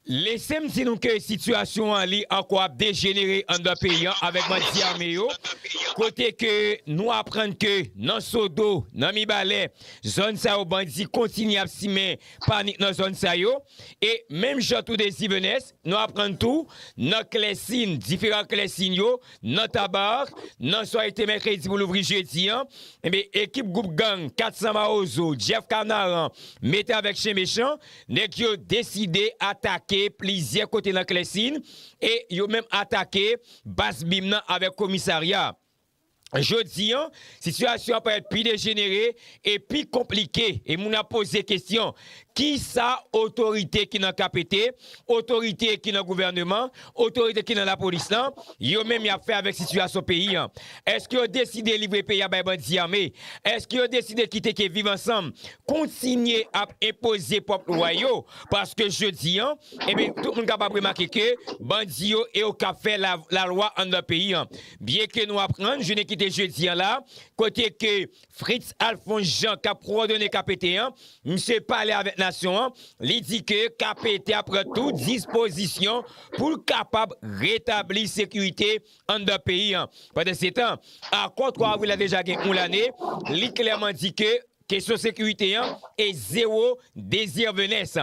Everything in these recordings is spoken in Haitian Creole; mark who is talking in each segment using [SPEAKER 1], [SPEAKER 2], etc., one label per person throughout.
[SPEAKER 1] Lesem di nou ke sitiyasyon an li ankò ap dejenere anndan peyi an avèk bandi ame yo, kote ke nou aprann ke nan Sodo, nan Mibalè, zòn sa yo bandi kontinye ap simen panik nan zòn sa yo, e menm jan tou de Zivenès, nou aprann tou nan klèsin, diferan klèsin yo, nan Tabarre, nan soyete mèkredi pou louvri jedi an, enben ekip gwoup gang 400 Mawozo, Jeff Kanaran, mete avèk chen mechan, Nèg yo deside atake plizyè kote nan Klèsin e yo menm atake baz bim nan avèk komisarya. Jodi an, sitiyasyon an parèt pi dejenere e pi konplike e moun ap poze kesyon, kisa otorite ki nan KPT, otorite ki nan gouvèneman, Otorite ki nan lapolis lan, yo menm y ap fè avèk sitiyasyon peyi an? Èske yo deside livre peyi a bay bandi ame? Èske yo deside kite ke Viv Ansanm kontinye ap enpoze pwòp lwa yo? Paske jodi an, enben, tout moun kapab remake ke bandi yo e yo k ap fè lalwa anndan peyi an. Byenke nou aprann jounen ki te jedi an la, kote ke Fritz Alphonse Jean kap kowòdone KPT an, misye pale avèk nasyon an, li di ke KPT a pran tout dispozisyon pou l kapab retabli sekirite anndan peyi an. Pandansetan, akò 3 avril la deja gen yon lane, li klèman di ke kesyon sekirite an e zewo dezirvenès.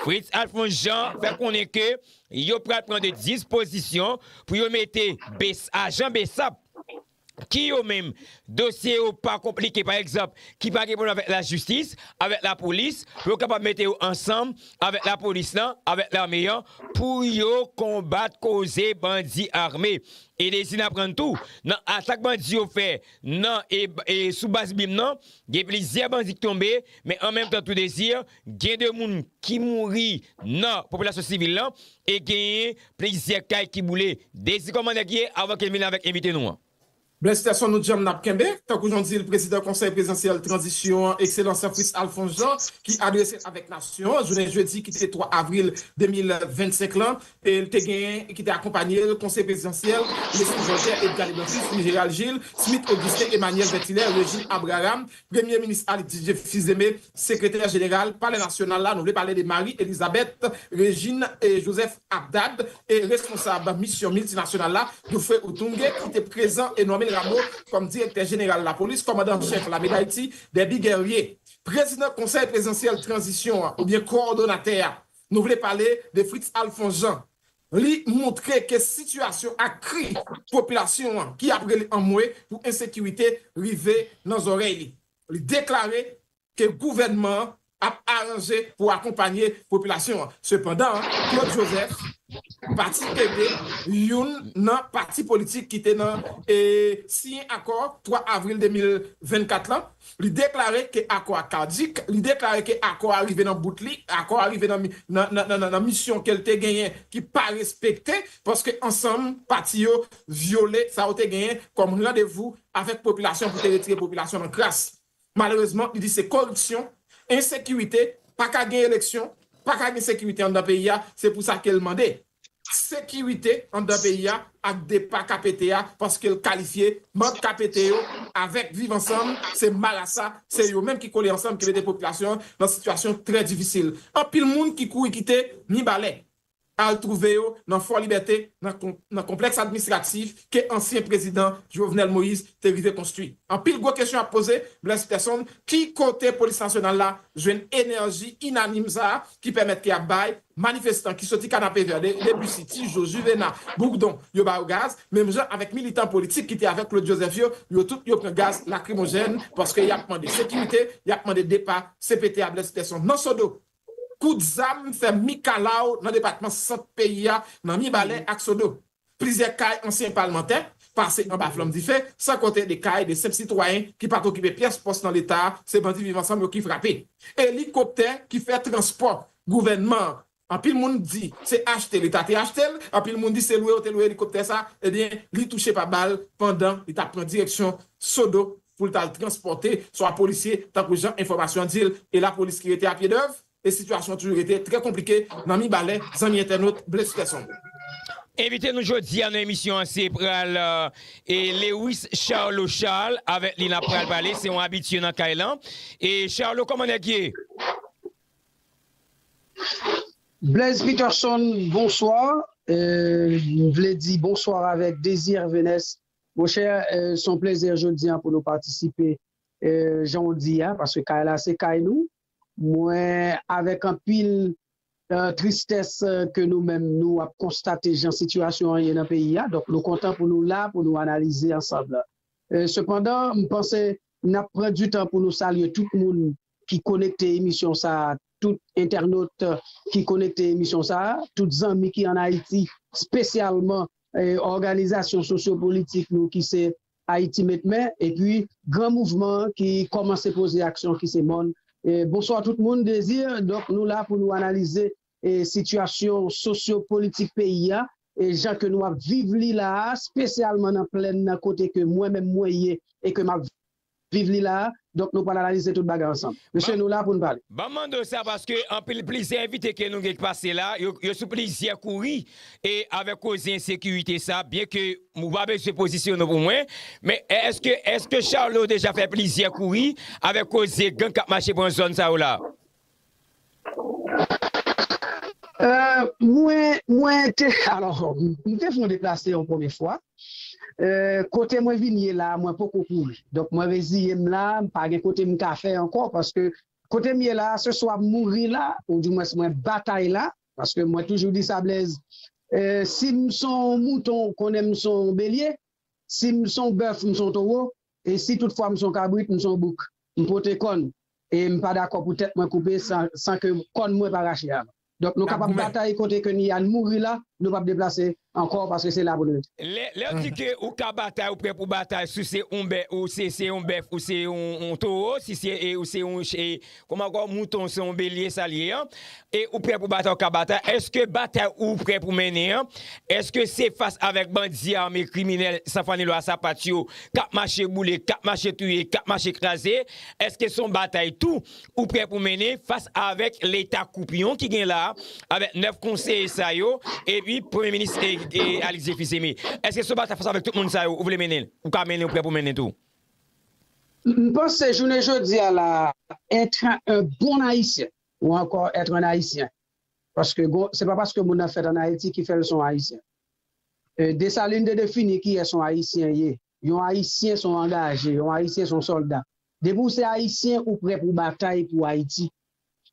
[SPEAKER 1] Fritz Alphonse Jean fè konnen ke yo pral pran de dispozisyon pou yo mete ajan bsap ki yo menm dosye yo pa konplike pa egzanp ki pa gen pwoblèm avèk lajistis, avèk lapolis pou yo kapab mete yo ansanm avèk lapolis lan, avèk lame an pou yo konbat koze bandi ame. E dezi n aprann tou nan atak bandi yo fè nan e sou baz bim nan gen plizyè bandi k tonbe men an menm tan tou dezi Gen 2 moun ki mouri nan popilasyon sivil lan e genyen plizyè kay ki boule. Dezi kòman nèg ye avan ke n vin la avèk envite nou an. Blaise Terson nou
[SPEAKER 2] djanm nap kenbe, tankou jan w di l prezidan konsèy prezidansyèl tranzisyon an ekselans Fritz Alphonse Jean ki adrese l avèk nasyon an jounen jedi ki te 3 avril 2025 lan e l te genyen ki te akonpanye l konseye prezidansyèl Leslie Voltaire Edgar Leblanc Fils Louis Gérald Gilles Smith Augustin Emmanuel Vertilaire Régine Abraham Premye Minis Aly Didier Fils-Aimé, Sekretè Jeneral Palè Nasyonal la, nou vle pale de Marie Elisabeth Regine et Joseph Abdad, e Responsab Misyon Miltinasyonal la, Dufré Utunge, ki te prezan, e Normil Rameau kòm Direktè Jeneral Lapolis, Kòmandan an Chèf Lame Dayiti, Derby Guerrier, Prezidan Konsèy Prezidansyèl Tranzisyon an, oubyen Kowòdonatè a, nou vle pale de Fritz Alphonse Jean, Li montre ke sitiyasyon ak kri popilasyon an ki ap rele anmwe pou ensekirite rive nan zòrèy li. Li deklare ke gouvènman an ap aranje pou akonpanye popilasyon an. Sepandan, Claude Joseph pati ede youn nan pati politik ki te nan siyen akò 3 avril 2024 lan, Li deklare ke akò a caduc, li deklare ke akò a rive nan bout li, akò a rive nan misyon ke l te genyen ki pa respekte paske ansanm pati yo vyole sa yo te genyen kòm randevou avèk popilasyon pou te retire popilasyon nan kras. Malerezman, li di se koripsyon, ensekirite, pa ka gen eleksyon, pa ka gen sekirite anndan peyi a, se pou sa ke l mande. sekirite anndan peyi a ak depa KPT a paske l kalifye manb KPT yo avèk Viv Ansanm se marasa, se yo menm ki kole ansanm ki mete popilasyon an nan sitiyasyon trè difisil. Anpil moun ki kouri kite Mibalè al twouve yo nan Fò Libète nan konplèks administratif ke ansyen prezidan Jovenel Moïse te rive konstwi. Anpil gwo kesyon ap poze, Blaise Persson, ki kote Polis Nasyonal la jwenn enèji inanim sa a ki pèmèt ke y ap bay manifestan ki soti Kanapevè, Debussy, Tijo, Juvena, Bourdon, yo ba yo gaz, menm jan avèk militan politik ki te avèk Claude Joseph yo, yo tout yo pran gaz lakrimojèn paske y ap mande sekirite, y ap mande depa CPT a Blaise Persson. Nan Sodo, kout zam fè mikalaw nan depatman Sant peyi a, nan Mibalè ak Sodo. Plizyè kay ansyen palmantè pase anba flanm dife, san konte 2 kay 2 senp sitwayen ki pat okipe pyès pòs nan leta, se bandi viv ansanm yo ki frape. Elikoptè ki fè transpò gouvènman an, anpil moun di se achte leta te achte l, anpil moun di se lwe yo te lwe elikoptè sa, ebyen li touche pa bal pandan li tap pran direksyon Sodo pou l tal transpòte swa polisye tankou jan enfòmasyon di l e lapolis ki rete a pye dèv. E sitiyasyon an toujou rete trè konplike nan Mibalè, zanmi entènot Blaise Persson. Envite
[SPEAKER 1] nou jodi a nan emisyon an se pral e Lewis Charlot Charles avèk li nap pral pale se yon abitye nan kay lan e Charlot kòman nèg ye?
[SPEAKER 3] Blaise Peterson bonswa e m vle di bonswa avèk Désir Hervenes monchè son plèzè jodi a pou nou patisipe e jan w di a paske kay la se kay nou Mwen avèk anpil tristès ke nou menm nou ap konstate jan sitiyasyon an ye nan peyi a, donk nou kontan pou nou la pou nou analize ansanm. Sepandan, m panse n ap pran di tan pou nou salye tout moun ki konekte emisyon sa, tout entènot ki konekte emisyon sa, tout zanmi ki an Ayiti, spesyalman òganizasyon sosyo-politik nou ki se Ayiti met men epi gran mouvman an ki kòmanse poze aksyon ki se mòn. Bonswa tout moun Désir donk nou la pou nou analize sitiyasyon sosyo politik peyi a jan ke nou ap viv li la a spesyalman nan plèn nan kote ke mwen menm mwen ye e ke m ap Viv li la a, donk nou pral analize tout bagay ansanm. Mesye nou la pou n pale. Banm mande w sa paske
[SPEAKER 1] anpil plizyè envite ke nou gen k pase la yo sou plizyè kouri e avèk koze ensekirite sa byen ke ou pa bezwen pozisyonnen w pou mwen men èske èske Charlot deja fè plizyè kouri avèk koze gang kap mache pran zòn sa yo la?
[SPEAKER 3] Mwen, mwen te, alò, m te fè yon deplase yon premye fwa. Kote mwen vin ye la a, mwen poko kouri. Donk mwen reziye m la a, m pa gen kote m ka fè ankò paske kote m ye la a, se swa m mouri la oudimwens mwen batay la paske mwen toujou di sa Blèz, si m s on mouton, konnen m s on belye, si m s on bèf, m s on towo, E si tout fwa m son kabrit, m son bouk. M pote kòn e m pa dakò pou tèt mwen koupe san ke kòn mwen pa rache avan. Donk nou kapab batay kote ke ni a n mouri la, nou pap deplase ankò paske se la pou n rete. Lè w di ke
[SPEAKER 1] ou ka batay, ou prè pou batay si w se yon bèf ou se yon towo, si w se yon Kòm ankò mouton se yon belye sa l ye an? E ou prè pou batay ou ka batay? Èske batay ou prè pou mennen an? Èske se fas avèk bandi ame, kriminèl, san fanni lwa sapat yo k ap mache boule, k ap mache touye, k ap mache kraze? Èske se yon batay tou ou prè pou mennen fas avèk leta koupyon ki gen la a, avèk 9 konseye sa yo epi premye minis Alix Jefis Aimé? Èske se yon batay fas avèk tout moun sa yo ou vle mennen, ou ka mennen, ou prè pou mennen tou?
[SPEAKER 3] M panse jounen jodi a la a, èt en bon Ayisyen ou ankò èt en Ayisyen, paske gon, se pa paske moun nan fèt an Ayiti ki fè l se yon Ayisyen. Desalin te defini kiyès yon Ayisyen ye, yon Ayisyen se yon angaje, yon Ayisyen se yon sòlda. Depi ou se Ayisyen, ou prè pou w batay pou Ayiti.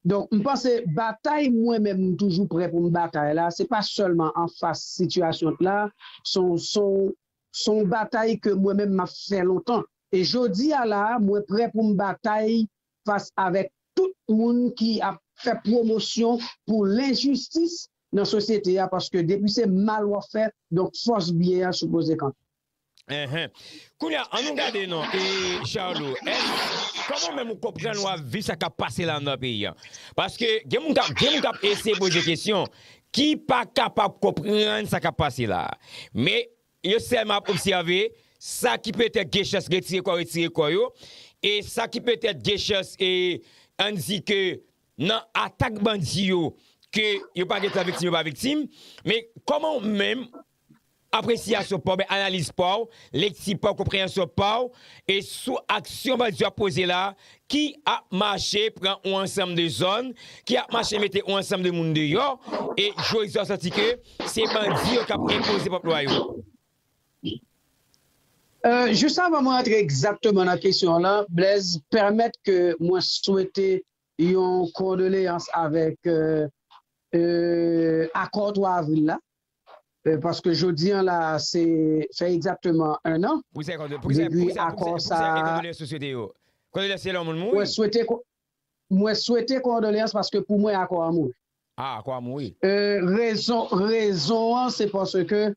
[SPEAKER 3] Donk, m panse batay mwen menm m toujou prè pou m batay la, se pa sèlman anfas sitiyasyon t la, se yon S on batay ke mwen menm m ap fè lontan. E jodi a la a, mwen prè pou m batay fas avèk tout moun ki ap fè pwomosyon pou lenjistis nan sosyete a, paske depi se mal w ap fè, donk fòs byen an sipoze kanpe. Enhen.
[SPEAKER 1] Kounye a, an nou gade non, e Charlo, èske, kòman ou menm ou konprann w ap viv sa k ap pase la nan peyi an? Paske gen moun k ap, gen moun k ap eseye poze kesyon, ki pa kapab konprann sa k ap pase la a, men yo sèlman ap obsève sa ki petèt gen chans retire kò retire kò yo, e sa ki petèt gen chans e ann di ke nan atak bandi yo ke yo pa gen tan viktim yo pa viktim, men kòman ou menm Apresyasyon pa w men analiz pa w, lekti pa w, konpreyansyon pa w e sou aksyon bandi yo ap poze la ki ap mache pran yon ansanm de zòn, ki ap mache mete yon ansanm de moun deyò e jodi a w santi ke se bandi yo k ap enpoze pwòp lwa yo.
[SPEAKER 3] Jis avan mwen antre egzakteman nan kesyon w lan Blaise, pèmèt ke mwen swete yon kondoleyans avèk akò 3 avril la. Paske jodi an la a se fè egzakteman 1 an depi akò sa a. Mwen swete kondoleyans paske pou mwen akò an mouri.
[SPEAKER 1] Rezon
[SPEAKER 3] an se paske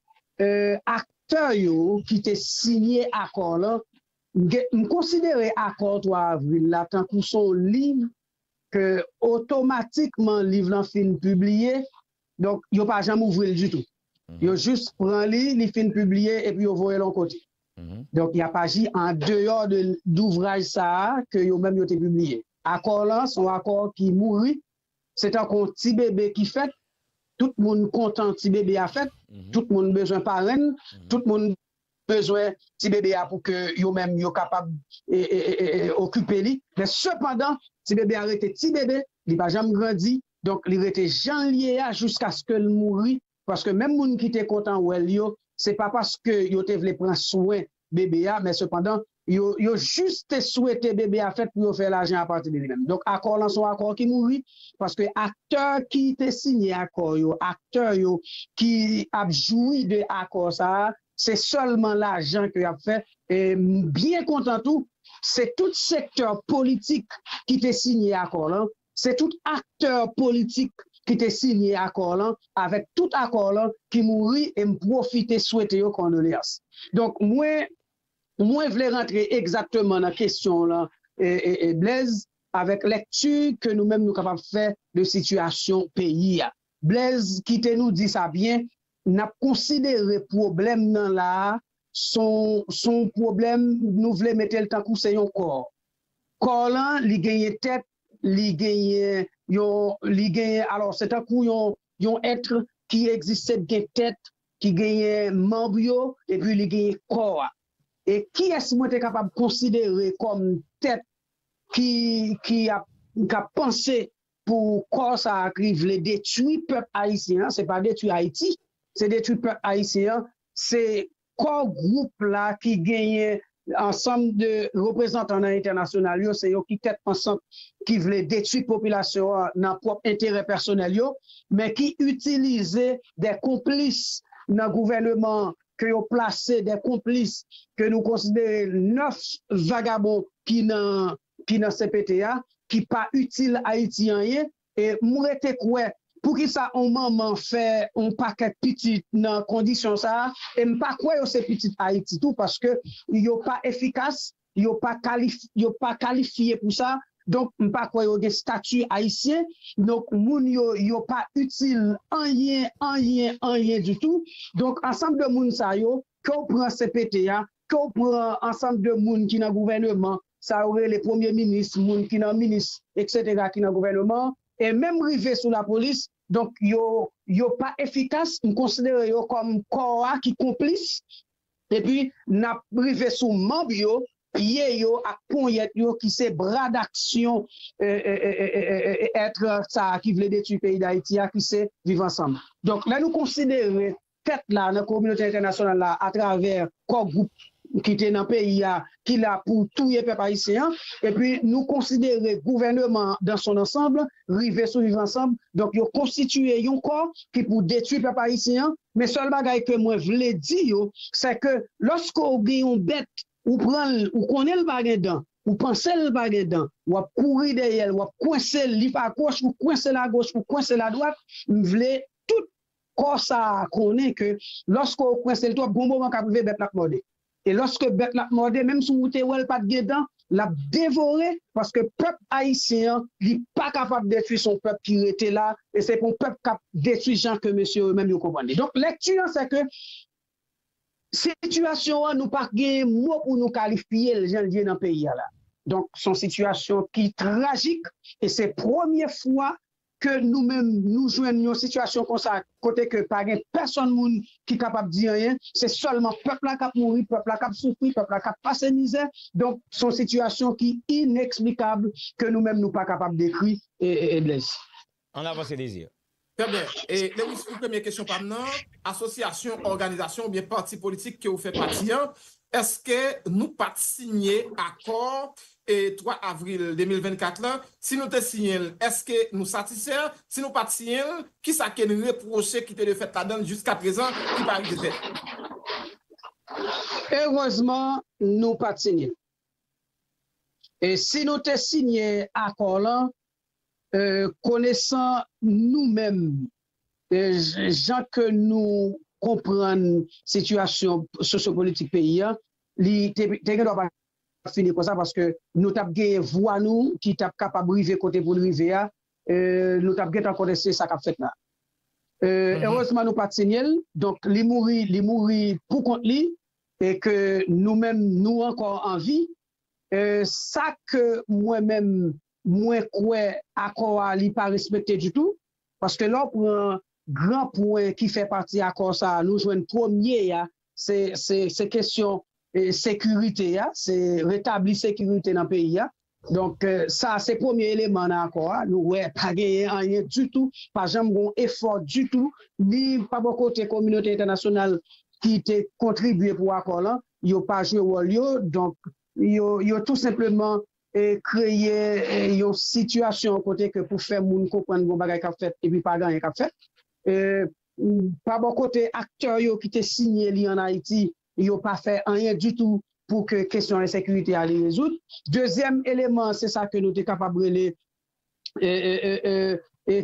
[SPEAKER 3] aktè yo ki te siyen akò lan, m konsidere akò 3 avril la tankou se yon liv ke otomatikman liv lan fin pibliye Donk yo pa janm ouvri l ditou. Yo jis pran li, li fin pibliye epi yo voye l yon kote. Donk y ap aji andeyò de ouvraj sa a ke yo menm yo te pibliye. Akò lan se yon akò ki mouri, se tankou yon ti bebe ki fèt, tout moun kontan ti bebe a fèt, tout moun bezwen parenn, tout moun bezwen ti bebe a pou ke yo menm yo kapab okipe li. Men sepandan, ti bebe a rete ti bebe, li pa janm grandi, Donk li rete jan l ye a jiskaske l mouri paske menm moun ki te kontan wè l yo se pa paske yo te vle pran swen bebe a men sepandan yo yo jis te swete bebe a fèt pou yo fè lajan apati de li menm. Donk akò lan se yon akò ki mouri paske aktè ki te siyen akò yo, aktè yo ki ap jwi de akò sa a se sèlman lajan ke y ap fè e m byen kontan tou se tout sektè politik ki te siyen akò lan Se tout aktè politik ki te siyen akò lan avèk tout akò lan ki mouri e m pwofite swete yo kondoleyans. Donk mwen mwen vle rantre egzakteman nan kesyon w lan Blèz avèk lèkti ke nou menm nou kapab fè de sitiyasyon peyi a. Blèz kite nou di sa byen, n ap konsidere pwoblèm nan la a s on pwoblèm nou vle mete l tankou se yon kò. Kò lan li genyen tèt, li genyen yon, li genyen alò se tankou yon, yon être ki egziste k gen tèt, ki genyen manb yo epi li genyen kò a. E kiyès mwen te kapab konsidere kòm tèt ki, ki ap, k ap panse pou kò sa a ki vle detwi pèp ayisyen an, se pa detwi Ayiti, se detwi pèp ayisyen an, se Kò gwoup la ki genyen ansanm de reprezantan nan entènasyonal yo, se yo ki tèt pansant ki vle detwi popilasyon an nan pwòp enterè pèsonèl yo, men ki itilize de konplis nan gouvèneman an, ke yo plase de konplis ke nou konsidere 9 vagabon ki nan cpt a, ki pa itil Ayiti anyen, E m rete kwè, poukisa on manman fè on pakèt pitit nan kondisyon sa a, e m pa kwè yo se pitit Ayiti tou, paske yo pa efikas, yo pa kalif, yo pa kalifye pou sa, donk m pa kwè yo gen stati Ayisyen, donk moun yo, yo pa itil anyen, anyen, anyen ditou, donk ansanm de moun sa yo, ke w pran cpt a, ke w pran ansanm de moun ki nan gouvèneman, sa yo rele premye minis, moun ki nan minis eksetera ki nan gouvèneman an, e menm rive sou lapolis, donk yo yo pa efikas, m konsidere yo kòm kò a ki konplis, epi n ap rive sou manb yo, pye yo ak ponyèt yo ki se bra daksyon èt sa a ki vle detui peyi dayiti a ki se viv ansanm. Donk lè nou konsidere fèt la nan kominote entènasyonal la atravè kò gwoup ki te nan peyi a ki la pou touye pèp ayisyen an epi nou konsidere gouvèneman an dans son ensemble rive sou viv ansanm donk yo konstitiye yon kò ki pou detwi pèp ayisyen an men sèl bagay ke mwen vle di yo sè ke lòske w gen yon bèt ou pran l ou konnen l pa gen dan ou panse l pa gen dan w ap kouri dèyè l w ap kwense l li pa kwoch ou kwense l agoch ou kwense l adwat m vle tout. Kò sa a konnen ke lòske ou kwense l twòp, gon moman k ap rive bèt la ap mòde. E lòske bèt la ap mòde, menm si ou te wè l pa t gen dan, l ap devore, paske pèp ayisyen an, li pa kapab detwi, se yon pèp ki rete la, e se pa yon pèp k ap detwi jan ke mesye yo menm yo konprann li. Donk lèkti an se ke sitiyasyon an nou pa gen mo pou nou kalifye l jan l ye nan peyi a la. Donk se yon sitiyasyon ki trajik e se premye fwa ke nou menm nou jwenn yon sitiyasyon konsa kote ke pa gen pèsonn moun ki kapab di anyen, se sèlman pèp la kap mouri, pèp la kap soufri, pèp la kap pase mizè, donk son sitiyasyon ki ineksplikab ke nou menm nou pa kapab dekri E. Blaise. An avanse
[SPEAKER 1] Désir. Trè byen. E.
[SPEAKER 2] Lewis pou premye kesyon pa m nan, asosyasyon, òganizasyon oubyen pati politik ke ou fè pati an, èske nou pat sinye akò 3 avril 2024 lan, si nou te siyen l, èske nou satisfè? Si nou pa t siyen l, kisa ke n repwoche ki te dwe fèt ladan l jiskaprezan ki pa rive fèt?
[SPEAKER 3] Erezman nou pa t siyen l. E si nou te siyen akò lan, konesan nou menm, jan ke nou konprann sitiyasyon sosyopolitik peyi an, li te gen dwa pa tap fini konsa paske nou tap genyen vwa nou ki tap kapab rive kote poun rive a nou tap gentan konnen se sa kap fèt la erezman nou pat sinyel donk li mouri li mouri pou kont li e ke nou menm nou ankò anvi sa ke mwen menm mwen kwè akò a li pa respekte ditou paske lè w pran gran pwen ki fè pati akò sa nou jwenn premye a se kesyon sekirite a, se retabli sekirite nan peyi a. Donk, sa a se premye eleman nan akò a. Nou wè pa genyen anyen ditou, pa janm gen yon efò ditou, ni pa bò kote kominote entènasyonal ki te kontribye pou akò lan, yo pa jwe wòl yo. Donk, yo tou senpleman kreye yon sitiyasyon kote ke pou fè moun konprann gen yon bagay k ap fèt epi pa gen anyen k ap fèt. Pa bò kote aktè yo ki te siyen li an Ayiti, yo pa fè anyen ditou pou ke kesyon ensekirite a li rezoud. Dezyèm eleman an se sa ke nou te kapab rele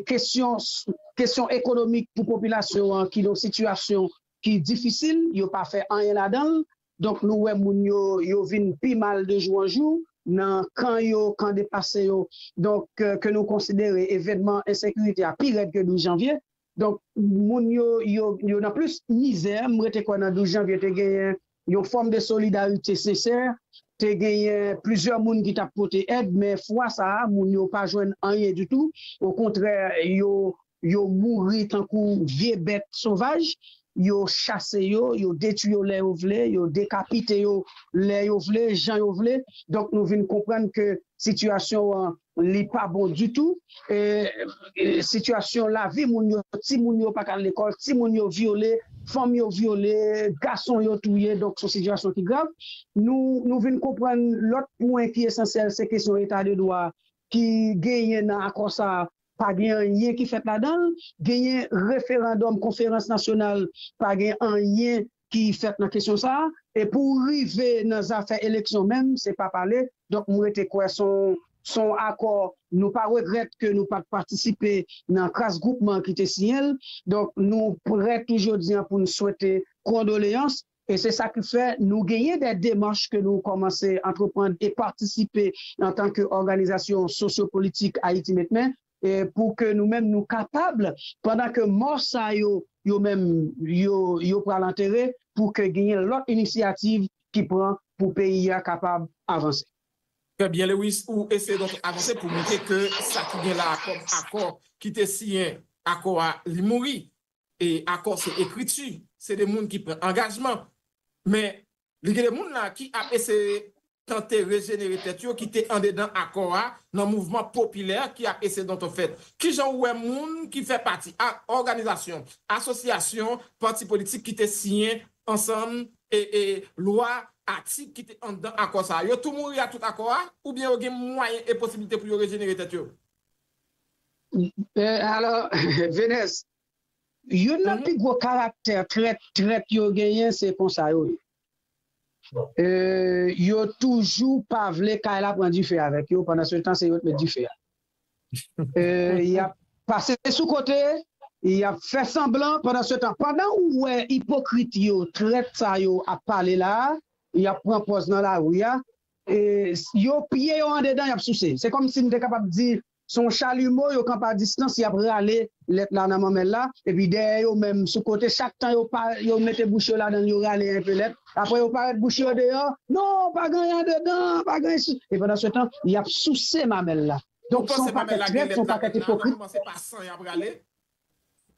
[SPEAKER 3] kesyon ekonomik pou popilasyon an ki nan yon sitiyasyon ki difisil, yo pa fè anyen ladan l. Donk nou wè moun yo, yo vin pi mal de jou an jou nan kan yo, kan deplase yo. Donk ke nou konsidere evènman ensekirite a pi rèd ke 12 janvye. Donk moun yo yo nan plis mizè, m rete kwè nan 12 janvye te genyen yon fòm de solidarite sensè, te genyen plizyè moun ki t ap pote èd men fwa sa a moun yo pa jwenn anyen ditou okontrè yo yo mouri tankou vye bèt sovaj, yo chase yo, yo detui yo lè yo vle, yo dekapite yo lè yo vle, jan yo vle, donk nou vin konprann ke sitiyasyon an Li pa bon ditou e sitiyasyon lavi moun yo, ti moun yo pa ka al lekòl, ti moun yo vyole, fanm yo vyole, gason yo touye donk son sitiyasyon ki grav. Nou nou vin konprann lòt pwen ki esansyèl se kesyon eta de dwa ki genyen nan akò sa a pa gen anyen ki fèt ladan l, genyen referandòm konferans nasyonal pa gen anyen ki fèt nan kesyon sa a e pou rive nan zafè eleksyon menm se pa pale donk m rete kwè s on s on akò nou pa regrèt ke nou pa t patisipe nan kras gwoupman ki te siyen l donk nou prè tou jodi an pou n swete kondoleyans e se sa ki fè nou genyen dè demach ke nou kòmanse antreprann e patisipe antanke òganizasyon sosyopolitik Ayiti Met Men. Pou ke nou menm nou kapab, pandan ke mò sa yo, yo menm, yo pral antere, pou ke genyen lòt inisyativ ki pran pou peyi a kapab avanse. Trè byen
[SPEAKER 2] Lewis, ou eseye donk avanse pou montre ke sa ki gen la a kòm akò ki te siyen, akò a li mouri. E akò se ekriti, se de moun ki pran angajman. Men, Li gen de moun la ki ap eseye tante rejenere tèt yo ki te andedan akò a nan mouvman popilè ki ap eseye donto fèt. Ki jan ou wè moun ki fè pati ak òganizasyon, asosyasyon, pati politik ki te siyen ansanm e e lwa, atik ki te anndan akò sa a? Yo tou mouri ak tout akò a oubyen yo gen mwayen e posibilite pou yo rejenere tèt yo?
[SPEAKER 3] Alò, Venès, Youn nan pi gwo karaktè trèt trèt yo genyen se konsa yo ye. Yo toujou pa vle kay la pran dife avèk yo pandan se tan se yo t met dife a. Yap pase sou kote, yap fè sanblan pandan se tan pandan ou wè ipokrit yo, trèt sa yo ap pale la, yap pran pòz nan lari a, yo piye yo andedan yap souse. Se kòmsi m te kapab di Se yon chalumeau yo kanpe a distans yap rale lèt la nan manmèl la epi dèyè yo menm sou kote chak tan yo pa yo mete bouch yo ladanl yo rale enpe lèt aprè yo parèt bouch yo deyò non pa gen anyen andedan pa gen si e pandan se tan yap souse mamèl la donk se yon pakèt trèt se yon pakèt ipokrit.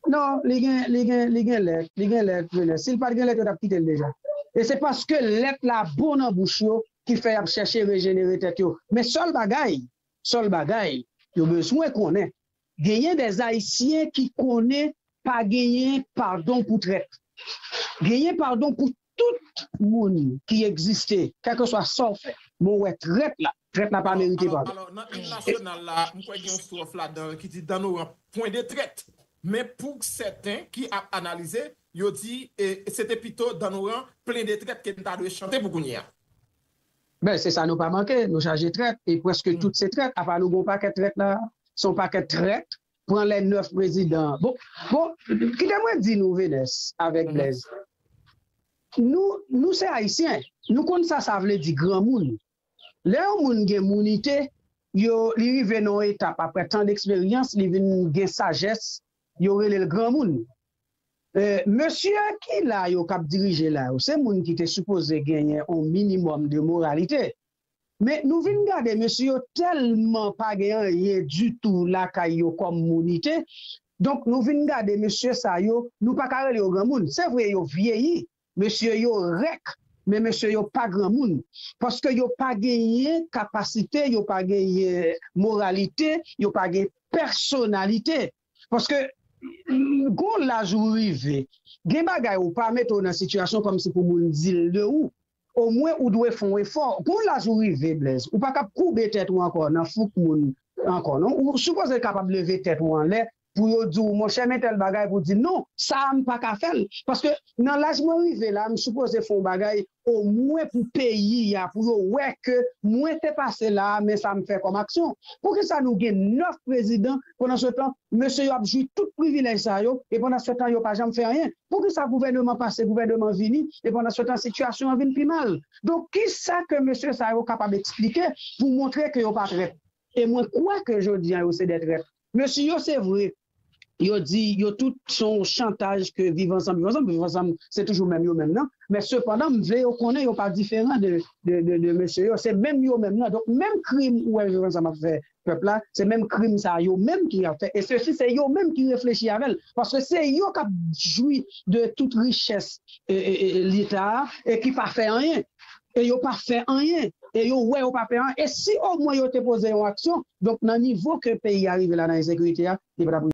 [SPEAKER 2] Non
[SPEAKER 3] li gen li gen li gen lèt li gen lèt menè sil pat gen lèt yo tap kitel deja e se paske lèt la bon nan bouch yo ki fè yap chèche rejenere tèt yo men sèl bagay Sèl bagay yo bezwen konnen genyen dè ayisyen ki konnen pa genyen padon pou trèt. Genyen padon pou tout moun ki egziste kèlkeswa sa w fè. Bon wè trèt la, trèt la pa merite padon. Alò nan im nasyonal
[SPEAKER 2] la m kwè gen yon stròf ladan l ki di dan nou ranp pwen de trèt men pou sèten ki ap analize yo di se te pito dan nou ranp plen de trèt ke n ta dwe chante pou kounye a. Ben
[SPEAKER 3] se sa nou pa manke nou chaje trèt e preske tout se trèt apa nou gen yon pakèt trèt la se yon pakèt trèt pran lè 9 prezidan bon bon kite mwen di nou Venès avèk Blèz nou nou se ayisyen nou konn sa sa vle di granmoun lè yon moun gen mounite yo li rive nan yon etap aprè tan deksperyans li vin gen sajès Yo relel granmoun. Eeh mesye ki la yo kap dirije la yo se moun ki te sipoze genyen on minimum de moralite men nou vin gade mesye yo telman pa gen anyen ditou lakay yo kom mounite donk nou vin gade mesye sa yo nou paka rele yo granmoun se vre yo vyeyi Mesye yo rèk men mesye yo pa granmoun paske yo pa genyen kapasite yo pa genyen moralite yo pa gen pèsonalite paske gon laj ou rive gen bagay ou pa mete w nan sitiyasyon kòmsi pou moun di l de ou omwen ou dwe fon efò gon laj ou rive Blaise ou pa kab koube tèt ou ankò nan fouk moun ankò non ou sipoze kapab leve tèt ou anlè pou yo di w monchè men tèl bagay pou di non sa a m pa ka fè l paske nan laj mwen rive la m sipoze fè yon bagay omwen pou peyi a pou yo wè ke mwen te pase la a men sa m fè kòm aksyon poukisa nou gen 9 prezidan pandan se tan mesye yo ap jwi tout privilèj sa yo e pandan se tan yo pa janm fè anyen poukisa gouvèneman pase gouvèneman vini e pandan se tan sitiyasyon an vin pi mal donk kisa ke mesye sa yo kapab eksplike pou montre ke yo pa trèt. E mwen kwè ke jodi an yo se 2 trèt. Mesye yo se vre yo di yo tout se yon chantaj ke viv ansanm viv ansanm, viv ansanm se toujou menm yo menm nan, men sepandan m vle yo konnen yo pa diferan de mesye yo, se menm yo menm nan, donk menm krim ou wè viv ansanm ap fè pèp la, se menm krim sa yo menm tou yap fè e sesi se yo menm ki reflechi avè l, paske se yo kap jwi de tout richès leta a e ki pa fè anyen. e yo pa fè anyen e yo wè yo pa fè anyen e si omwen yo te poze yon aksyon donk nan nivo ke peyi a rive la nan ensekirite a li pa tap